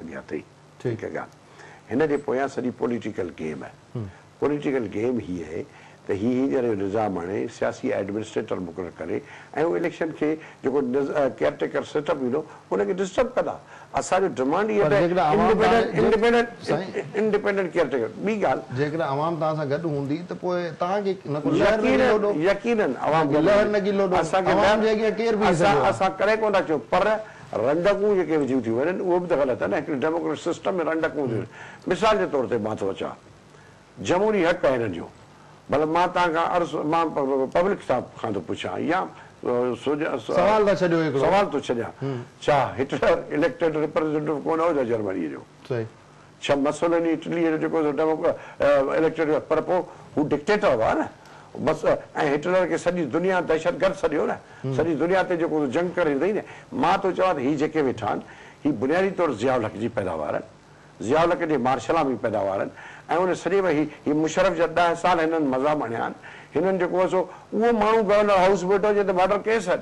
ڏيان ٿي هڪ ڳالهه هن جي پويان سڄي پوليٽيڪل گيم آهي پوليٽيڪل گيم هي آهي ته هي هينئر جو نظام آڻي سياسي ايڊمنسٽريٽر مقرر ڪري ۽ هو اليڪشن کي جيڪو ڪيئر ٽيڪر سيٽ اپ ايندو ان کي ڊسٽرب ڪندا اسان جو ڊمانڊ هي آهي انڊپينڊنٽ ڪيئر ٽيڪر ٻي ڳالهه جيڪڏهن عوام توهان سان گڏ هوندي ته پوء توهان کي نه ڪو لهر نه لوڏو يقينن يقينن عوام لهر نه ڪي لوڏو عوام جي اڳيان ڪير بيهي سگهيو آهي اسان ڪڏهن ڪونه ٿا چيون پر رنڊڪون جيڪي وڌيون ٿيون وڃن اهي به ته غلط آهن هڪڙي ڊيموڪريٽ سسٽم ۾ رنڊڪون وڌيون وڃن مثال جي طور تي مان ٿو اچان جمهوري حق آهي هنن جو ڀلا مان تان کان عرض مان پبلڪ سان کان ٿو پڇان يا سوال ٿا ڇڏيو هڪڙو سوال ٿو ڇڏيان ڇا هٽلر اليڪٽيڊ ريپريزينٽيو ڪونه هو جا جرمني جو. ڇهه مسوليني اٽليء جو جيڪو ڊيموڪ اليڪٽيڊ هو پر پوء هو ڊڪٽيٽر هئا نه بس ۽ هٽلر کي سڄي دنيا دهشتگرد سڏيو نه سڄي دنيا تي جيڪو جنگ ڪري ڏنئي نه مان ٿو چوان ته هي جيڪي ويٺا آهن هي بنيادي طور ضياء الحق جي پيداوار آهن ضياء الحق جي مارشلام جي پيداوار آهن ۽ ان سڄي ۾ هي هي مشرف جا ڏهه سال هنن مزا مڻيا آهن هنن جيڪو هو سو اهو ماڻهو گورنر هائوس به ويٺو هجي ته مارڊر ڪيس آهن.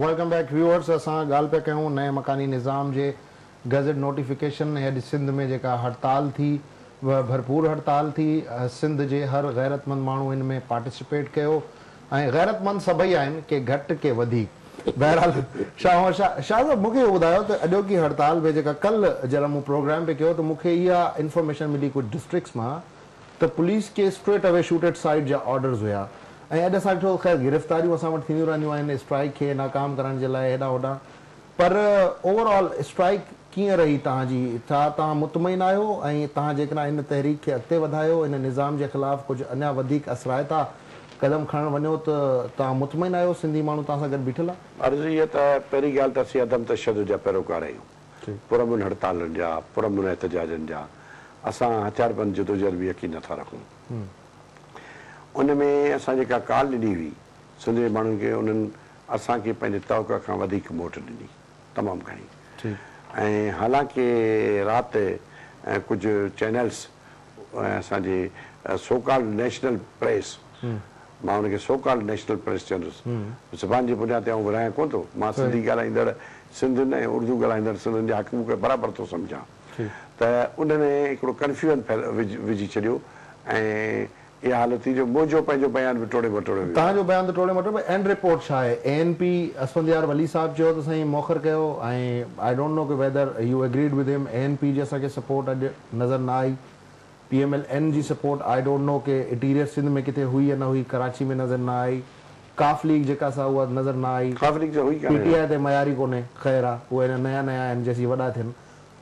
ويلڪم بيڪ ويوئرز اسان ڳالهه پيا ڪيون نئين مڪاني نظام جي گيزٽ نوٽيفڪيشن ۽ اڄ سنڌ ۾ جيڪا هڙتال ٿي اها ڀرپور هڙتال ٿي سنڌ جي هر غيرتمند ماڻهو ان ۾ پارٽيسپيٽ ڪيو ۽ غيرتمند سڀئي آهن، ڪي گهٽ ڪي وڌيڪ. بهرحال شاهه محمد شاهه شاهه صاحب مونکي اهو ٻڌايو ته اڄوڪي هڙتال ۾ جيڪا ڪلهه جڏهن مون پروگرام پي ڪيو ته مونکي اها انفارميشن ملي ڪجهه ڊسٽرڪٽس مان ته پوليس کي straightaway shoot at sight جا آرڊرز هيا ۽ اڄ اسان ڏٺو خير گرفتاريون اسان وٽ ٿينديون رهنديون آهن اسٽرائيڪ کي ناڪام ڪرڻ جي لاء هيڏانهن هوڏانهن پر اوور آل اسٽرائيڪ ڪيئن رهي توهان جي؟ ڇا توهان مطمئن آهيو ۽ توهان جيڪڏهن ان تحريڪ کي اڳتي وڌايو، ان نظام جي خلاف ڪجهه اڃا وڌيڪ اثرائتا قدم کڻڻ وڃو ته توهان مطمئن آهيو سنڌي ماڻهو توهان سان گڏ بيٺل آهي؟ عرض هي ته پهرين ڳالهه ته اسين عدم تشدد جا پيروڪار آهيون، پرامن هڙتالن جا، پرامن احتجاجن جا، اسان هٿياربند جدوجهد ۾ يقين نٿا رکون. ان ۾ اسان جيڪا ڪال ڏني هئي سنڌ جي ماڻهن کي انهن. اسان کي پنهنجي توقع کان وڌيڪ موٽ ڏني تمام گهڻي ۽ حالانڪه رات ڪجهه چينلز ۽ اسان جي سو ڪالڊ نيشنل پريس مان ان کي سو ڪالڊ نيشنل پريس چوندس زبان جي بنياد تي آئون ورهايان ڪونه ٿو مان سنڌي ڳالهائيندڙ سنڌين ۽ اردو ڳالهائيندڙ سنڌين جا حق مون کي برابر ٿو سمجهان ته انهن هڪڙو ڪنفيوئن وجهي ڇڏيو ۽ اها حالت ٿي جو موجو پنهنجو بيان به ٽوڙي مٽوڙي ويو آهي. تنهنجو بيان ته ٽوڙي مٽوڙي اينڊ رپورٽ ڇا آهي؟ A N P Asfandyar Wali صاحب چيو ته سائين موخر ڪيو ۽ آئي ڊونٽ نو ڪي whether you agreed with him A N P جي اسان کي سپورٽ اڄ نظر نه آئي پي ايم ايل اين جي سپورٽ آئي ڊونٽ نو ڪي اٽيريئر سنڌ ۾ ڪٿي هئي يا نه هئي ڪراچي ۾ نظر نه آئي ڪاف ليگ جيڪا سا اها نظر نه آئي قاف ليگ ته هئي ڪانهي پي ٽي آئي تي معياري ڪونهي خير آ اهي اڃا نيا نيا آهن جيسين وڏا ٿين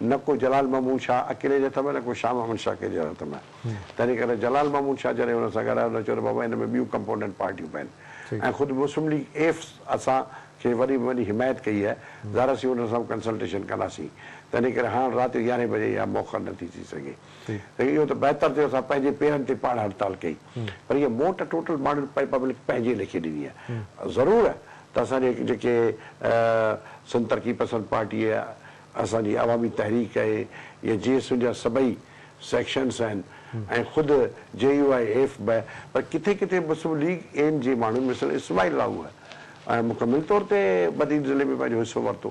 نه ڪو جلال محمود شاهه اڪيلي جي هٿ ۾ نه ڪو شاهه محمد شاهه ڪنهن جي هٿ ۾ تنهن ڪري جلال محمود شاهه جڏهن هن سان ڳالهايو هن چيو ته بابا ان ۾ ٻيون ڪمپونينٽ پارٽيون به آهن ۽ خود مسلم ليگ ايف اسان کي وڏي ۾ وڏي حمايت ڪئي آهي ظاهر اسين انهن سان به ڪنسلٽيشن ڪنداسين تنهن ڪري هاڻ رات جو يارهين بجي اها موخر نٿي ٿي سگهي ته اهو ته بهتر ٿيو اسان پنهنجي پيرن تي پاڻ هڙتال ڪئي پر هيء موٽ ٽوٽل ماڻهن پبلڪ پنهنجي ليکي ڏني آهي ضرور ته اسان جي جيڪي سنڌ ترقي پسند پارٽي ۽ اسان جي عوامي تحريڪ ۽ يا جي ايس يو جا سڀئي سيڪشنز آهن ۽ خود جي يو آء ايف به پر ڪٿي ڪٿي مسلم ليگ اين جي ماڻهن مثلا اسماعيل راهوء مڪمل طور تي بدين ضلعي ۾ پنهنجو حصو ورتو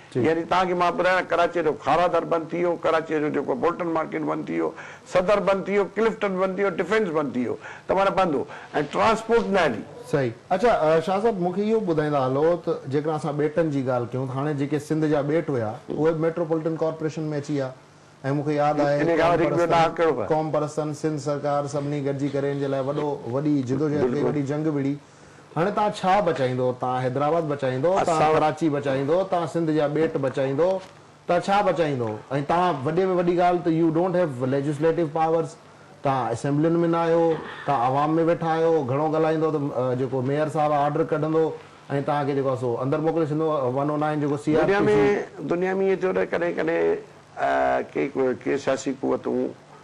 يعني تان کي مان ٻڌايان ڪراچيء جو کارا در بند ٿي ويو، ڪراچيء جو جيڪو بولٽن مارڪيٽ بند ٿي ويو، صدر بند ٿي ويو، ڪلفٽن بند ٿي ويو، ڊفينس بند ٿي ويو ته معنيٰ بند هو ۽ ٽرانسپورٽ نه هلي. صحيح. اڇا شاهه صاحب مون کي اهو ٻڌائيندا هلو ته جيڪڏهن اسان ٻيٽن جي ڳالهه ڪيون ته هاڻي جيڪي سنڌ جا ٻيٽ هيا اهي به ميٽروپولٽن ڪارپوريشن ۾ اچي ويا ۽ مون کي ياد آهي ان کان قوم وڌيڪ ٻيو پرستن ڏاهپ ڪهڙو پئي. قوم پرستن سنڌ سرڪار سڀني گڏجي ڪري ان جي لاء وڏو وڏي جدوجهد ڪئي بلڪل. وڏي جنگ وڙهي. هاڻي تان ڇا بچائيندو؟ تان حيدرآباد بچائيندو؟ تان اسان. ڪراچي بچائيندو؟ تان سنڌ جا ٻيٽ بچائيندو؟ تان ڇا بچائيندو؟ ۽ تان وڏي ۾ وڏي ڳالهه ته you don't have legislative powers, تان اسيمبلين ۾ نه آهيو، تان عوام ۾ ويٺا آهيو، گهڻو ڳالهائيندو ته جيڪو ميئر صاحب آهي آرڊر ڪڍندو ۽ تان کي جيڪو آهي سو اندر موڪلي ڇڏيندو ون او نائن جيڪو سي آر دنيا پي ۾ سي. دنيا ۾ ائين ٿيو نه ڪڏهن ڪڏهن ڪي ڪي سياسي قوتون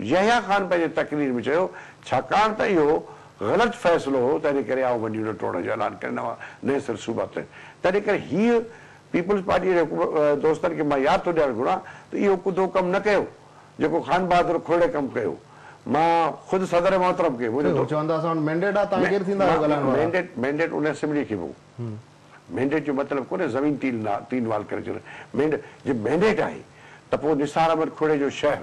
يحيٰ خان پنهنجي تقرير ۾ چيو، ڇاڪاڻ ته اهو غلط فيصلو هو، تنهن ڪري آئون منڊيون نه ٽوڙڻ جو اعلان ڪري نوان نئين سر صوبا تڏ. تنهن ڪري هيء پيپلز پارٽيء جي حڪم دوستن کي مان ياد ٿو ڏيارڻ گهران ته اهو ڪڌو ڪم نه ڪيو، جيڪو خان بهادر کهڙي ڪم ڪيو. مان خود صدر محترم کي منهنجو دو. چون ٿا اسان وٽ مينڊيٽ آهي، تان ڪير ٿيندا آهيو ڳالهائڻ وارا؟ مينڊيٽ، مينڊيٽ ان اسيمبليء کي به هو. مينڊيٽ جو مطلب ڪونهي زمين تين نا، تين وال ڪري ڇڏڻ. مينڊ، جي مينڊيٽ آهي ته پوء نثار احمد کهڙي جو شهر.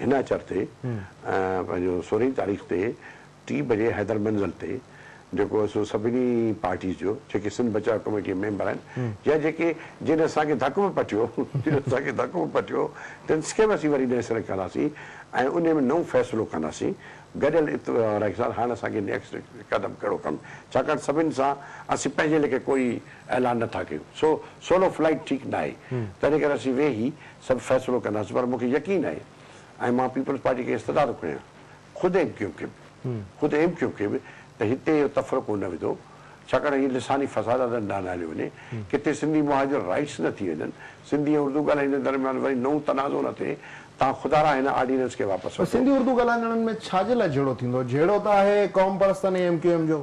هن اچر تي پنهنجو سورهين تاريخ تي ٽي بجي حيدر منزل تي جيڪو سو سڀني پارٽيز جو جيڪي سنڌ بچاء ڪميٽي ميمبر آهن يا جيڪي جن اسان کي ڌڪ به پٽيو جن اسان کي ڌڪ به پٽيو تن کي به اسين وري نئين سري ڪنداسين ۽ انهي ۾ نئون فيصلو ڪنداسين گڏيل رائي سان هاڻ اسان کي نيڪسٽ قدم ڪهڙو ڪرڻو ڇاڪاڻ سڀني سان اسين پنهنجي ليکي ڪوئي اعلان نه ٿا ڪيون سو سولو فلائيٽ ٺيڪ نه آهي تنهن ڪري اسين ويهي سڀ فيصلو ڪنداسين پر مون کي يقين آهي ۽ مان پيپلز پارٽي کي استدعا ٿو کڻيان خود ايم ڪيو ايم کي به خود ايم ڪيو ايم کي به ته هتي اهو تفرقو نه وڌو ڇاڪاڻ هي لساني فساداتن ڏانهن نه هليو وڃي ڪٿي سنڌي مهاجر رائٽس نه ٿي وڃن سنڌي ۽ اردو ڳالهائيندڙن درميان وري نئون تنازعو نه ٿئي تان خدارا هن آرڊيننس کي واپس وٺو. سنڌي اردو ڳالهائندڙن ۾ ڇا جي لاء جهيڙو ٿيندو؟ جهيڙو ته آهي قومپرستن ۽ ايم ڪيو ايم جو.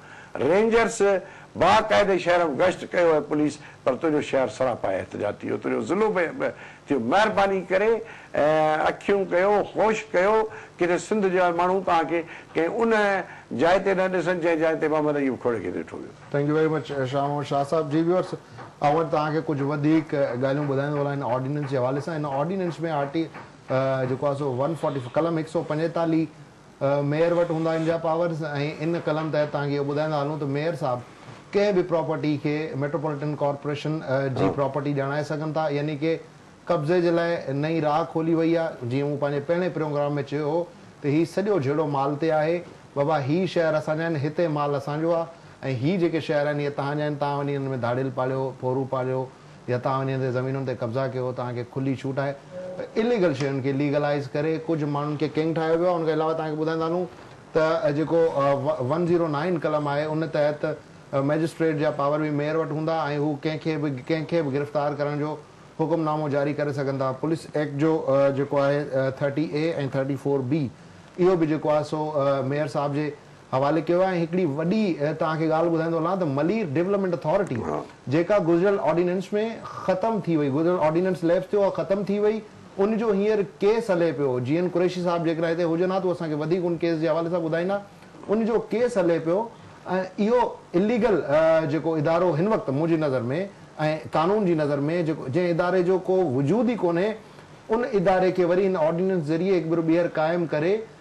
رينجرز باقاعدي شهر م گشت ڪيو اي پوليس پر تنهنجو شهر سراپا احتجاج ٿي ويو تنهنجو ضلعو به به ٿيو مهرباني ڪري اکيون ڪيو هوش ڪيو ڪٿي سنڌ جا ماڻهو توهان کي ڪنهن ان جاء تي نه ڏسن جنهن جاء تي محمد ايوب کوڙي کي ڏٺو ويو. Thank you very much Shah Muhammad Shah صاحب جي ويورس آئون اڄ توهان کي ڪجهه وڌيڪ ڳالهيون ٻڌائيندو هلان هن آرڊيننس جي حوالي سان هن آرڊيننس ۾ آرٽي جيڪو آهي سو ون فورٽي قلم هڪ سؤ پنجيتاليهه ميئر وٽ هوندا ان جا پاورز ۽ ان ڪلم تحت توهان کي اهو ٻڌائيندا هلون ته ميئر صاحب ڪنهن به پراپرٽي کي ميٽروپوليٽن ڪارپوريشن جي پراپرٽي ڄاڻائي سگهن ٿا يعني ڪي قبضي جي لاء نئين راهه کولي وئي آ جيئن مون پنهنجي پهرين پروگرام ۾ چيو هو ته هي سڄو جهيڙو مال تي آهي بابا هي شهر اسان جا آهن هتي مال اسان جو آ ۽ هي جيڪي شهر آهن اهي توهان جا آهن توهان وڃي انهن ۾ ڌاڙيل پاليو ڦورون پاليو يا توهان وڃي هتي زمينن تي قبضا ڪيو توهان کي کلي ڇوٽ آهي ته اليگل شين کي ليگلائيز ڪري ڪجهه ماڻهن کي ڪنگ ٺاهيو ويو آهي ان کان علاوه توهان کي ٻڌائيندا هلون ته جيڪو ون زيرو نائين قلم آهي ان تحت مئجسٽريٽ جا پاور به ميئر وٽ هوندا ۽ هو ڪنهن کي به ڪنهن کي به گرفتار ڪرڻ جو حڪم نامو جاري ڪري سگهن ٿا پوليس ايڪٽ جو جيڪو آهي thirty A ۽ thirty four B اهو به جيڪو آهي سو ميئر صاحب جي حوالي ڪيو آهي ۽ هڪڙي وڏي توهان کي ڳالهه ٻڌائيندو هلان ته ملير ڊيولپمينٽ اٿارٽي جيڪا گذريل آرڊيننس ۾ ختم ٿي وئي گذريل آرڊيننس ليپس ٿيو اها ختم ٿي وئي ان جو هينئر ڪيس هلي پيو جي اين قريشي صاحب جيڪڏهن هتي هجن ها ته هو اسان کي وڌيڪ ان ڪيس جي حوالي سان ٻڌائيندا ان جو ڪيس هلي پيو ۽ اهو اليگل جيڪو ادارو هن وقت منهنجي نظر ۾ ۽ قانون جي نظر ۾ جيڪو جنهن اداري جو ڪو وجود ئي ڪونهي ان اداري کي وري هن آرڊيننس ذريعي هڪ ڀيرو ٻيهر قائم ڪري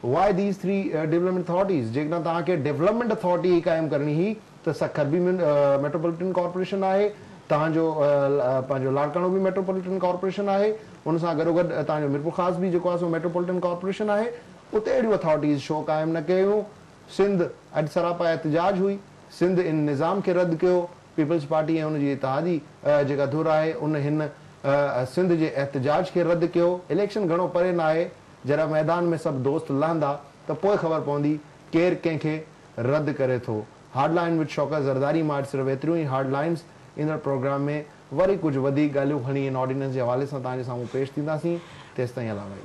Why these three Development Authorities؟ جيڪڏهن توهان کي Development Authority ئي قائم ڪرڻي هئي ته سکر به ميٽروپوليٽن ڪارپوريشن آهي، توهان جو پنهنجو لاڙڪاڻو به ميٽروپوليٽن ڪارپوريشن آهي، ان سان گڏوگڏ توهان جو ميرپورخاص به جيڪو آهي سو ميٽروپوليٽن ڪارپوريشن آهي، اتي اهڙيون اٿارٽيز شو قائم نه ڪيون؟ سنڌ اڄ سراپا احتجاج هئي، سنڌ ان نظام کي رد ڪيو، پيپلز پارٽي ۽ ان جي اتحادي جيڪا ڌر آهي ان هن سنڌ جي احتجاج کي رد ڪيو، اليڪشن گهڻو پري ناهي، جڏهن ميدان ۾ سڀ دوست لهندا ته پوء خبر پوندي ڪير ڪنهن کي رد ڪري ٿو. Hard line with Shaukat Zardari مان اڄ صرف ايتريون ئي هارڊ لائنز، ايندڙ پروگرام ۾ وري ڪجهه وڌيڪ ڳالهيون کڻي ان آرڊيننس جي حوالي سان توهان جي سامهون پيش ٿينداسين، تيستائين علامه اي.